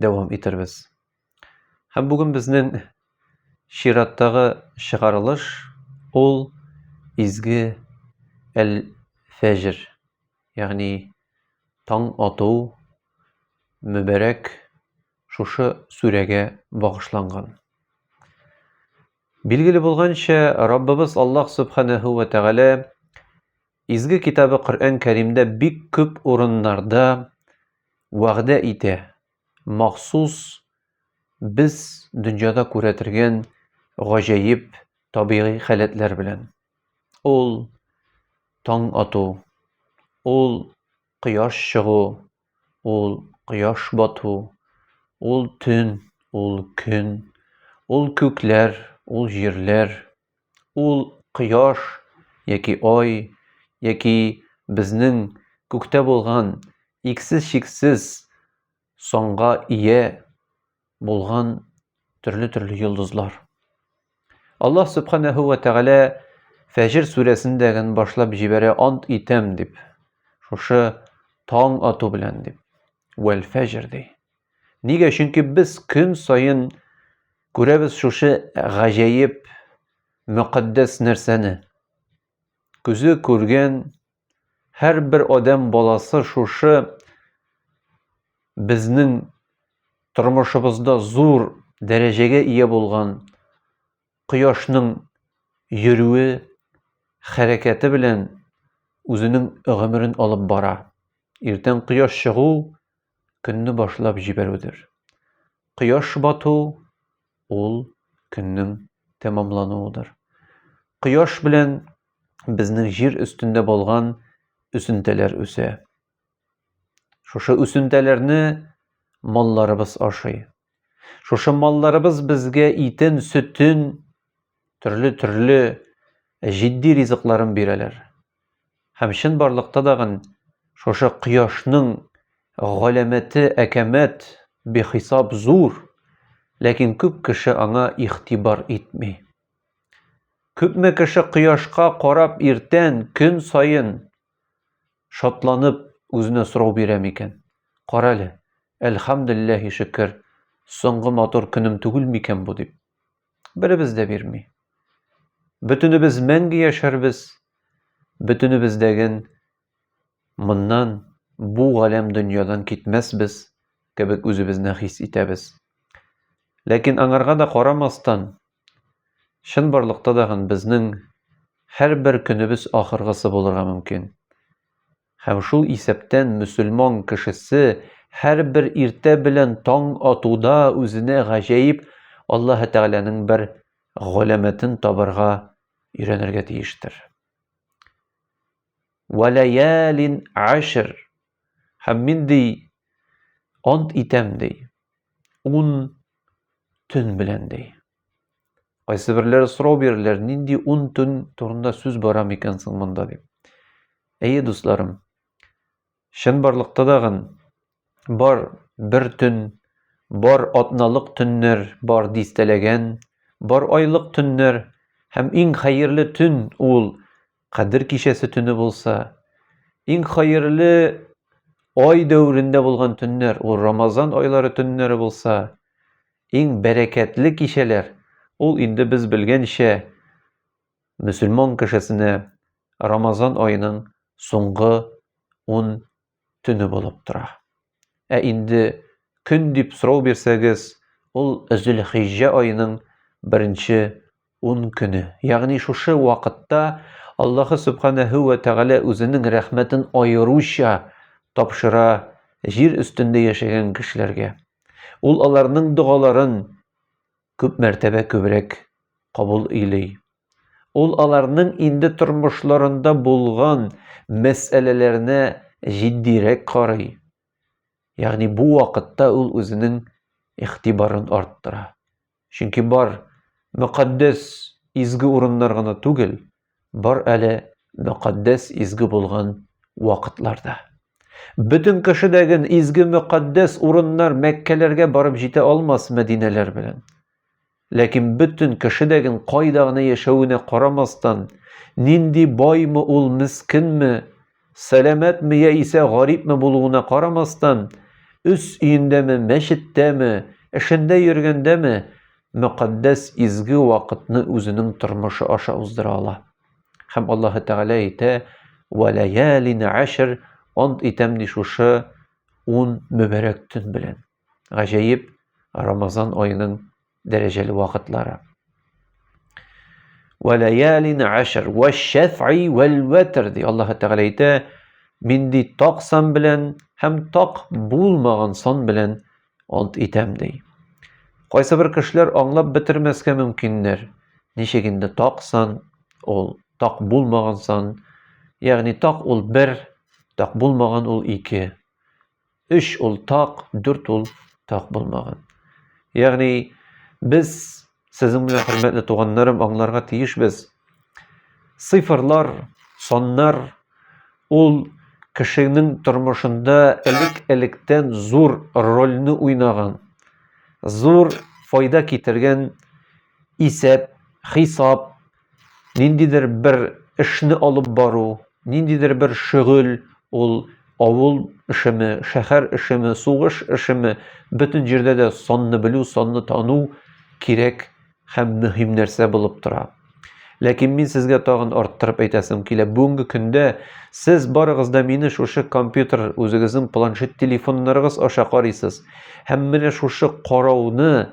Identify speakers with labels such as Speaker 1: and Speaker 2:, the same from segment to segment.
Speaker 1: дәвам итәрбез. Һәм бүген безнең чираттагы чыгарылыш ул изге әл-фәҗр, ягъни таң ату мөбәрәк шушы сүрәгә багышланган. Билгеле булганча, Раббыбыз Аллаһ Субханәһү вә Тәгалә Изге китабы Коръән Кәримдә бик күп урыннарда вәгъдә итә, махсус без дөньяда күрәтергән гаҗәеп табигый халәтләр белән. Ул таң ату, ул кояш чыгу, ул кояш бату, ул төн, ул көн, ул күкләр, ул җирләр, Ул кояш яки ай яки безнең күктә булган иксез-чиксез санга ия булган төрле-төрле йолдызлар. Аллаһ Субханәһү вә Тәгалә Фәҗр сүрәсендәген башлап җибәрә ант итәм дип. Шушы таң ату белән дип. Вәл фәҗр ди. Нигә? Чөнки без көн саен күрәбез шушы гаҗәеп мөкатдәс нәрсәне. Күзе күргән һәрбер адәм баласы шушы безнең тормышыбызда зур дәрәҗәгә ия булган кояшның йөрүе, хәрәкәте белән үзенең гомерен алып бара. Иртән кояш чыгу көнне башлап җибәрүдер. Кояш бату ул көннең тәмамлануыдыр. Кояш белән безнең җир өстендә булган үсентеләр үсә. Шушы үсентәләрне малларыбыз ашый. Шушы малларыбыз безгә итен, сөтен, төрле-төрле җитди ризыкларын бирәләр. Һәм чын барлыкта дагын шушы кояшның галәмәте әкәмәт, бихисап зур, ләкин күп кеше аңа игътибар итми. Күпме кеше кояшка карап иртән, көн саен Шатланып, үзенә сорау бирә микән? Карале, әлхәмделләһи шөкер, соңгы матур көнем түгел микән бу дип. Беребез дә бирми. Бөтенебез мәңге яшәрбез, бөтенебездәген моннан, бу галәм дөньядан китмәсбез кебек үзебезне хис итәбез. Ләкин аңарга да карамастан, Чынбарлыкта да гын безнең һәрбер көнебез ахыргысы булырга мөмкин. Һәм шул исәптән мөселман кешесе һәрбер иртә белән таң атуда үзенә гаҗәеп Аллаһы Тәгаләнең бер галәмәтен табарга өйрәнергә тиештер. Валаялин ашр Һәм мин, ди, ант итәм, ди, ун төн белән, ди. Кайсы берләре сорау бирерләр, нинди ун төн турында сүз бара микән соң монда, дип. Әйе, дусларым, чын барлыкта дагын бар бер төн, бар атналык төннәр, бар дистәләгән, бар айлык төннәр, һәм иң хәерле төн ул Кадер кичәсе төне булса, иң хәерле ай дәверендә булган төннәр, ул Рамазан айлары төннәре булса, иң бәрәкәтле кичәләр, ул инде без белгәнчә мөселман кешесенә Рамазан аеның соңгы 10 төне булып тора. Ә инде көн дип сорау бирсәгез, ул Зөлхиҗҗә аеның беренче ун көне. Ягъни шушы вакытта Аллаһы Субханәһү вә Тәгалә үзенең рәхмәтен аеруча тапшыра җир өстендә яшәгән кешеләргә. Ул аларның догаларын күп мәртәбә күбрәк кабул өйли. Ул аларның инде тормышларында булган мәсьәләләренә җитдирәк карый. Ягъни бу вакытта ул үзенең игътибарын арттыра. Чөнки бар мөкатдәс изге урыннар гына түгел, Бар әле мөкатдәс изге булган вакытларда. Бөтен кеше дә ген изге мөкатдәс урыннар Мәккәләргә барып җитә алмас Мәдинәләр белән. Ләкин бөтен кеше дә ген кайда гына яшәвенә карамастан, нинди баймы ул, мескенме, Сәламәтме яисә гарипме булуына карамастан, үз өендәме, мәчеттәме, эшендә йөргәндәме, мөкатдәс изге вакытны үзенең тормышы аша уздыра ала. Һәм Аллаһы Тәгалә әйтә, «Вәләялин ашр» ант итәм ди шушы ун мөбәрәк төн белән. гаҗәеп Рамазан аеның дәрәҗәле вакытлары. Вәләялин ашр вә шәфи вәл вәтр ди Аллаһ Тәгалә әйтә, мин ди так сан белән һәм так булмаган сан белән ант итәм ди. Кайсы бер кешеләр аңлап бетермәскә мөмкиннәр. Ничек инде так сан, ул так булмаган сан, ягъни так ул бер, так булмаган ул ике. 3 ул так, 4 ул так булмаган. Ягъни без сезнең белән хөрмәтле туганнарым аңларга тиешбез. Цифрлар, саннар ул кешенең тормышында элек-электән зур рольне уйнаган, зур файда китергән исәп, хисап, Ниндидер бер эшне алып бару, ниндидер бер шөгыль, ул авыл эшеме, шәһәр эшеме, сугыш эшеме, бөтен җирдә дә санны белү, санны тану кирәк һәм мөһим нәрсә булып тора. Ләкин мин сезгә тагын арттырып әйтәсем килә. Бүгенге көндә сез барыгыз да мине шушы компьютер, үзегезнең планшет телефоннарыгыз аша карыйсыз. Һәм менә шушы карауны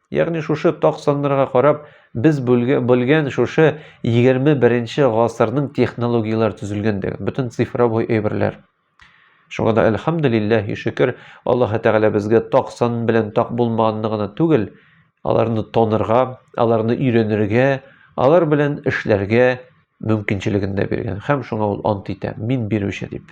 Speaker 1: Ягъни шушы так саннарга карап, без белгән шушы 21 нче гасырның технологияләр төзелгәндеген, бөтен цифровой әйберләр. Шуңа да әлхәмдүлилләһи шөкер, Аллаһ Тәгалә безгә так сан белән так булмаганны гына түгел, аларны танырга, аларны өйрәнергә, алар белән эшләргә, мөмкинчелеген дә биргән. Хәм шуңа ул ант итә, мин бирүче дип.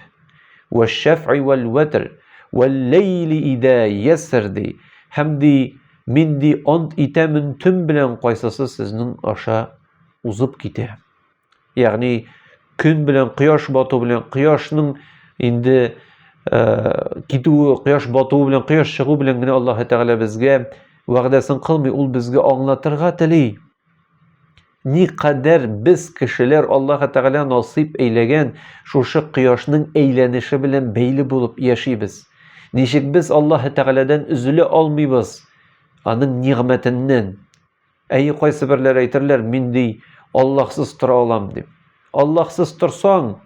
Speaker 1: Вә шәфи вәл вәтр, вәл ләйли идә яср ди. Хәм ди, мин ди ант итәмен төн белән кайсысы сезнең аша узып китә. Ягъни көн белән кояш бату белән кояшның инде э, китүе, кояш батуы белән кояш чыгу белән генә Аллаһ Тәгалә безгә вәгъдәсен кылмый, ул безгә аңлатырга тели. Ни кадәр без кешеләр Аллаһы Тәгалә насыйп әйләгән шушы кояшның әйләнеше белән бәйле булып яшибез? Ничек без Аллаһы Тәгаләдән өзелә алмыйбыз? Аның нигъмәтеннән. Әйе, кайсы берләр әйтерләр, мин ди, Аллаһсыз тора алам дип. Аллаһсыз торсаң,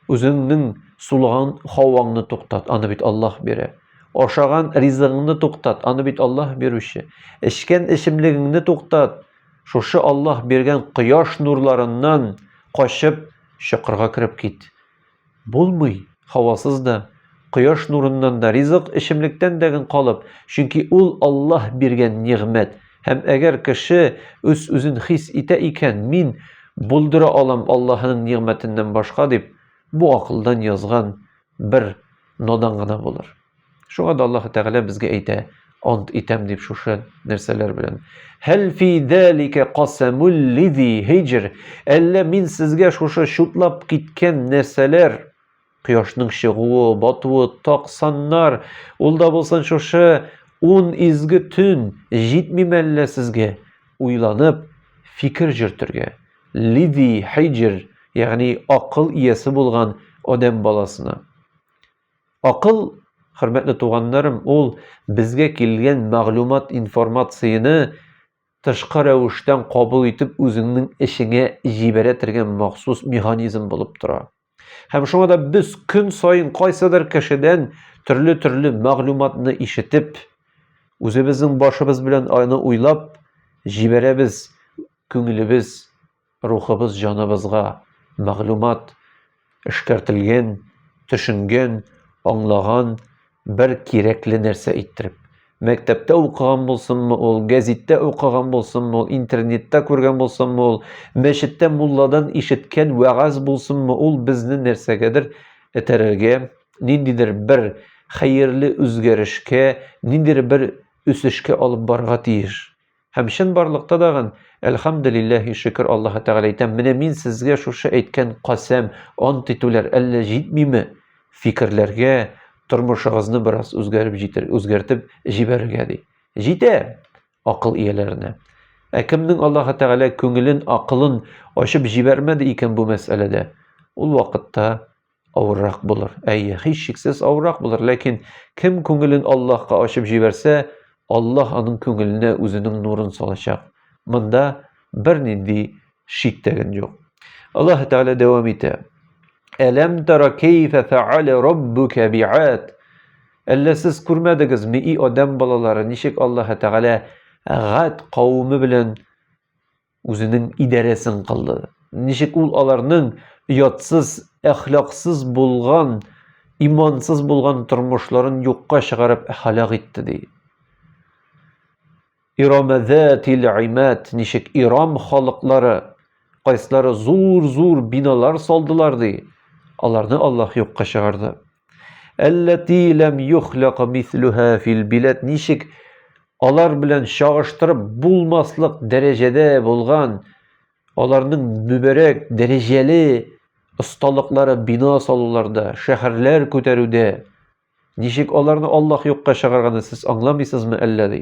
Speaker 1: үзеңнең сулган һаваңны туктат, аны бит Аллаһ бирә. Ашаган ризыгыңны туктат, аны бит Аллаһ бирүче. Эчкән эчемлегеңне туктат, Шушы Аллаһ биргән кояш нурларыннан качып, чокырга кереп кит. Булмый, һавасыз да, кояш нурыннан да, ризык, эчемлектән дә гын калып, чөнки ул Аллаһ биргән нигъмәт. Һәм әгәр кеше үз-үзен хис итә икән, мин булдыра алам Аллаһының нигъмәтеннән башка дип, бу акылдан язган бер надан гына булыр. Шуңа да Аллаһ Тәгалә безгә әйтә, ант итәм дип шушы нәрсәләр белән. Хәл фи далика касамул лизи хиҗр. Әллә мин сезгә шушы чутлап киткән нәрсәләр кояшның чыгуы, батуы, токсаннар, ул да булсын шушы ун изге төн җитми мәллә сезгә уйланып фикер җөртергә. Лиди хиҗр, ягъни акыл иясе булган адәм баласына. Акыл, хөрмәтле туганнарым, ул безгә килгән мәгълүмат информацияне тышкы рәвештән кабул итеп үзеңнең эчеңә җибәрә торган махсус механизм булып тора. Һәм шуңа да без көн саен кайсыдыр кешедән төрле-төрле мәгълүматны ишетеп, үзебезнең башыбыз белән аны уйлап җибәрәбез, күңелебез, рухыбыз, җаныбызга мәгълүмат эшкәртелгән, төшенгән, аңлаган, Бер кирәкле нәрсә әйттереп. Мәктәптә укыган булсынмы ул, гәзиттә укыган булсынмы ул, интернетта күргән булсынмы ул, мәчеттә мулладан ишеткән вәгазь булсынмы ул, безне нәрсәгәдер этәрергә, ниндидер бер хәерле үзгәрешкә, ниндидер бер үсешкә алып барырга тиеш. Һәм чынбарлыкта тагын, Әлхәмдүлилләһи, шөкер Аллаһы Тәгалә әйтәм, менә мин сезгә шушы әйткән касәм, ант итүләр әллә җитмиме? Фикерләргә, тормышыгызны бераз үзгәреп җитер, үзгәртеп җибәрергә ди. Җитә акыл ияләренә. Ә кемнең Аллаһы Тәгалә күңелен, акылын ачып җибәрмәде икән бу мәсьәләдә, ул вакытта Авыррак булыр. Әйе, һичшиксез авыррак булыр, ләкин кем күңелен Аллаһка ачып җибәрсә, Аллаһ аның күңеленә үзенең нурын салачак. Монда бернинди шик тәген юк. Аллаһ Тәгалә дәвам итә. Әләм тара кәйфә фәалә раббука биат. Әллә сез күрмәдегезме, и адәм балалары, ничек Аллаһ Тәгалә гад кавеме белән Үзенең идарәсен кылды. Ничек ул аларның оятсыз, әхлаксыз булган, имансыз булган тормышларын юкка чыгарып һәлак итте ди. Ирамәзәтил имәт, ничек Ирам халыклары, кайсылары зур-зур биналар салдылар ди. Аларны Аллаһ юкка чыгарды. Әлләти ләм юхләка мислюһә фил биләт ничек алар белән чагыштырып булмаслык дәрәҗәдә булган аларның мөбәрәк дәрәҗәле осталыклары бина салуларда, шәһәрләр күтәрүдә ничек аларны Аллаһ юкка чыгарганы сез аңламыйсызмы әллә ди?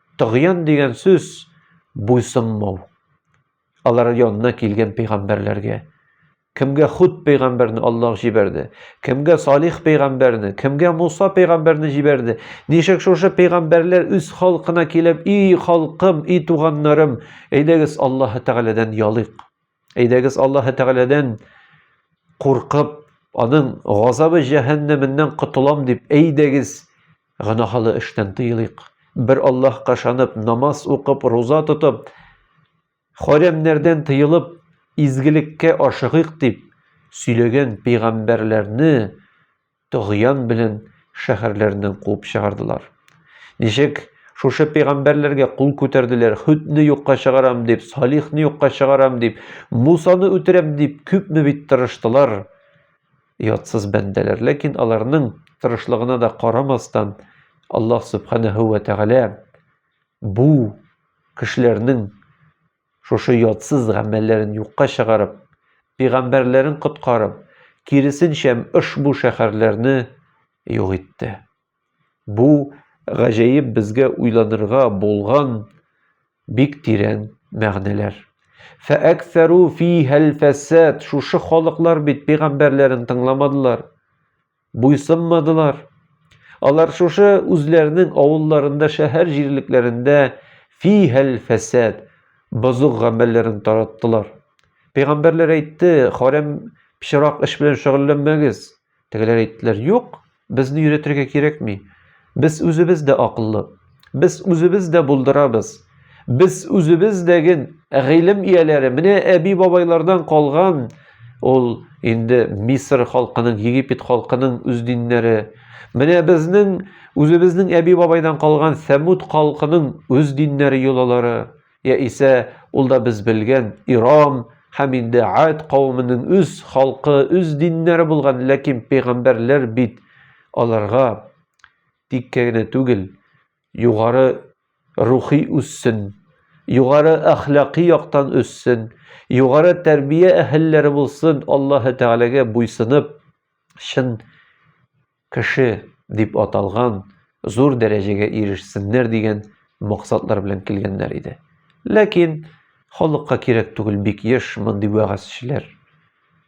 Speaker 1: Тогьян дигән сүз буйсынмау. Алар янына килгән пәйгамбәрләргә кемгә худ пәйгамбәрне Аллаһ җибәрде, кемгә Салих пәйгамбәрне, кемгә Муса пәйгамбәрне җибәрде. Ничек шушы пәйгамбәрләр үз халкына килеп, "И халкым, и туганнарым, әйдәгез Аллаһ Тәгаләдән ялыйк. Әйдәгез Аллаһы Тәгаләдән куркып, аның газабы җәһәннәменнән котылам дип, әйдәгез гөнаһлы эштән тыелыйк. Бер Аллаһка ышанып, намаз укып, руза тотып, хәрәмнәрдән тыелып, изгелеккә ашыгыйк дип сөйләгән пәйгамбәрләрне Тогьян белән шәһәрләреннән куып чыгардылар. Ничек шушы пәйгамбәрләргә кул күтәрделәр, Хөдне юкка чыгарам дип, Салихны юкка чыгарам дип, Мусаны үтерәм дип, күпме бит тырыштылар, ятсыз бәндәләр. Ләкин аларның тырышлыгына да карамастан, Аллаһ Сүбхәнәһү вә Тәгалә бу кешеләрнең Шушы ятсыз гамәлләрен юкка чыгарып, пигамбәрләрен коткарып, киресенчә ошбу шәһәрләрне юк итте. Бу гаҗәеп безгә уйланырга булган бик тирән мәгънәләр. Фәәксәру фи хәлфәсәт, шушы халыклар бит пигамбәрләрен тыңламадылар. Буйсынмадылар. Алар шушы үзләренең авылларында, шәһәр җирлекләрендә фи-һәл фәсәд, бозык гамәлләрен тараттылар. Пәйгамбәрләр әйтте, харәм пычрак эш белән шөгыльләнмәгез. Тегеләр әйттеләр, юк, безне өйрәтергә кирәкми. Без үзебез дә акыллы. Без үзебез дә булдырабыз. Без үзебез дәген гыйлем ияләре. Менә әби бабайлардан калган ул инде Мисыр халкының, Египет халкының үз диннәре. Менә безнең үзебезнең әби бабайдан калган Сәмуд халкының үз диннәре йолалары. Я исә ул да без белгән Ирам, һәм инде ад кавымының үз халкы, үз диннәре булган, ләкин пәйгамбәрләр бит аларга тиккә генә түгел, югары рухи үссен, югары әхлакый яктан үссен, югары тәрбия әһелләре булсын, Аллаһы Тәгаләгә буйсынып, чын кеше дип аталган зур дәрәҗәгә ирешсеннәр дигән максатлар белән килгәннәр иде. Ләкин халыкка кирәк түгел бик еш мондый вәгазьчеләр.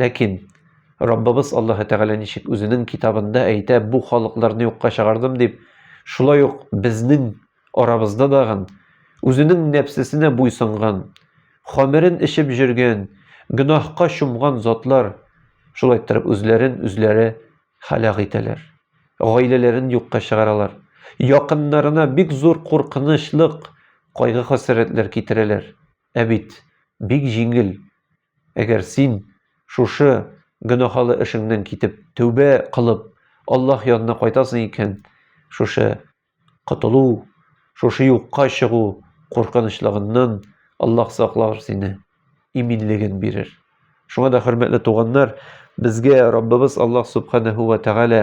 Speaker 1: Ләкин Раббыбыз Аллаһы Тәгалә ничек үзенең китабында әйтә, бу халыкларны юкка чыгардым дип, шулай ук безнең арабызда дагын үзенең нәпсесенә буйсынган, хамерен эчеп җөргән, гөнаһка чумган затлар шулай торып үзләрен үзләре халак итәләр. Гаиләләрен юкка чыгаралар. Якыннарына бик зур куркынычлык, кайгы-хәсрәтләр китерәләр. Ә бит бик җиңел Әгәр син шушы гөнаһалы эшеңнән китеп, тәүбә кылып, Аллаһ янына кайтасың икән, шушы котылу, шушы юкка чыгу куркынычлыгыннан Аллаһ саклар сине, иминлеген бирер. Шуңа да, хөрмәтле туганнар, безгә Раббыбыз Аллаһ Субханәһү вә Тәгалә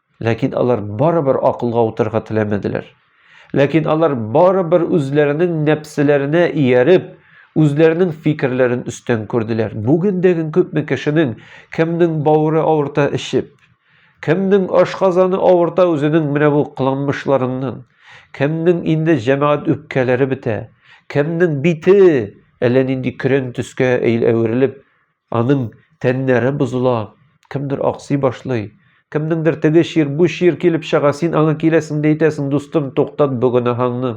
Speaker 1: Ләкин алар барыбер акылга утырга теләмәделәр. Ләкин алар барыбер үзләренең нәпселәренә ияреп, үзләренең фикерләрен өстән күрделәр. Бүген дәген күпме кешенең кемнең бавыры авырта эчеп, кемнең ашказаны авырта үзенең менә бу кыланмышларыннан, кемнең инде җәмәгать үпкәләре бетә, кемнең бите әллә нинди көрән төскә әверелеп, Аның тәннәре бозыла, кемдер аксый башлый, кемнеңдер теге чир, бу чир килеп чыга, син аңа киләсең дә әйтәсең, дустым, туктат бу гөнаһыңны.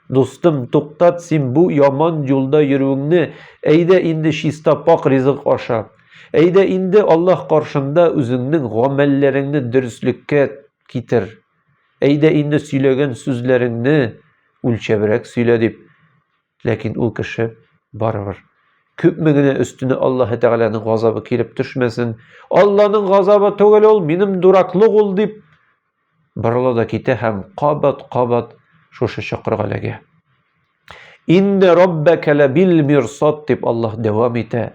Speaker 1: Дустым, туктат син бу яман юлда йөрүеңне, әйдә инде чиста пак ризык аша. Әйдә инде Аллаһ каршында үзеңнең гамәлләреңне дөреслеккә китер. Әйдә инде сөйләгән сүзләреңне үлчәбрәк сөйлә дип Ләкин ул кеше барыбер күпме генә өстенә Аллаһы Тәгаләнең газабы килеп төшмәсен, Алланың газабы түгел ул, минем дураклык ул дип борыла да китә һәм кабат-кабат шушы чокырга эләгә. Инде Раббәкә ләбил мирсат дип Аллаһ дәвам итә.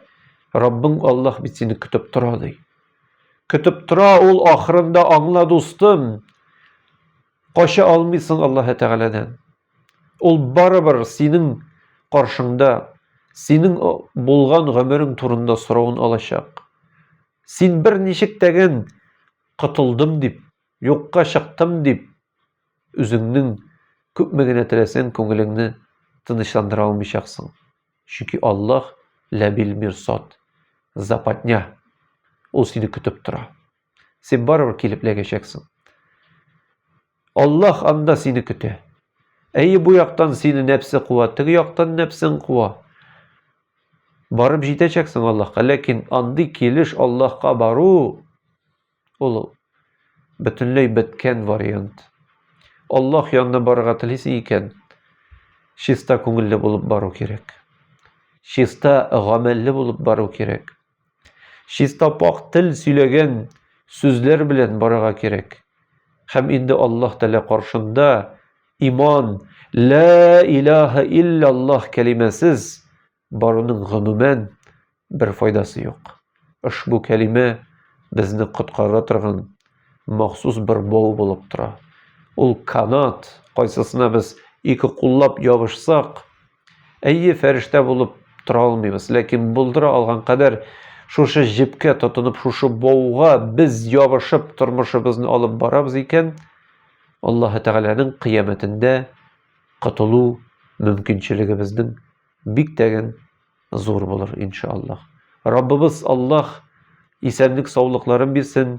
Speaker 1: Раббың Аллаһ бит сине көтеп тора ди. Көтеп тора ул ахырында аңла дустым. Кача алмыйсың Аллаһы Тәгаләдән. Ул барыбер синең каршыңда синең булган гомерең турында соравын алачак. Син бер ничек тәген котылдым дип, юкка чыктым дип, үзеңнең күпме генә теләсәң күңелеңне тынычландыра алмыйчаксың. Чөнки Аллаһ ләбил мирсад, западня. Ул сине көтеп тора. Син барыбер килеп эләгәчәксең. Аллаһ анда сине көтә. Әйе, бу яктан сине нәпсе куа, теге яктан нәпсең куа. Барып җитәчәксең Аллаһка, ләкин андый килеш Аллаһка бару ул бөтенләй беткән вариант. Аллаһ янына барырга телисең икән, чиста күңелле булып бару кирәк. Чиста гамәлле булып бару кирәк. Чистапак тел сөйләгән сүзләр белән барырга кирәк. Һәм инде Аллаһ Тәгалә каршында иман, лә илаһа илляллаһ кәлимәсез баруның гомумән бер файдасы юк. Ошбу кәлимә безне коткара торган махсус бер бау булып тора. Ул канат, кайсысына без ике куллап ябышсак, Әйе, фәрештә булып тора алмыйбыз, ләкин булдыра алган кадәр шушы җепкә тотынып, шушы бауга без ябышып тормышыбызны алып барабыз икән, Аллаһы Тәгаләнең кыямәтендә котылу мөмкинчелегебезнең бик тәген зур булыр, иншаллаһ. Раббыбыз Аллаһ исәнлек-саулыкларын бирсен,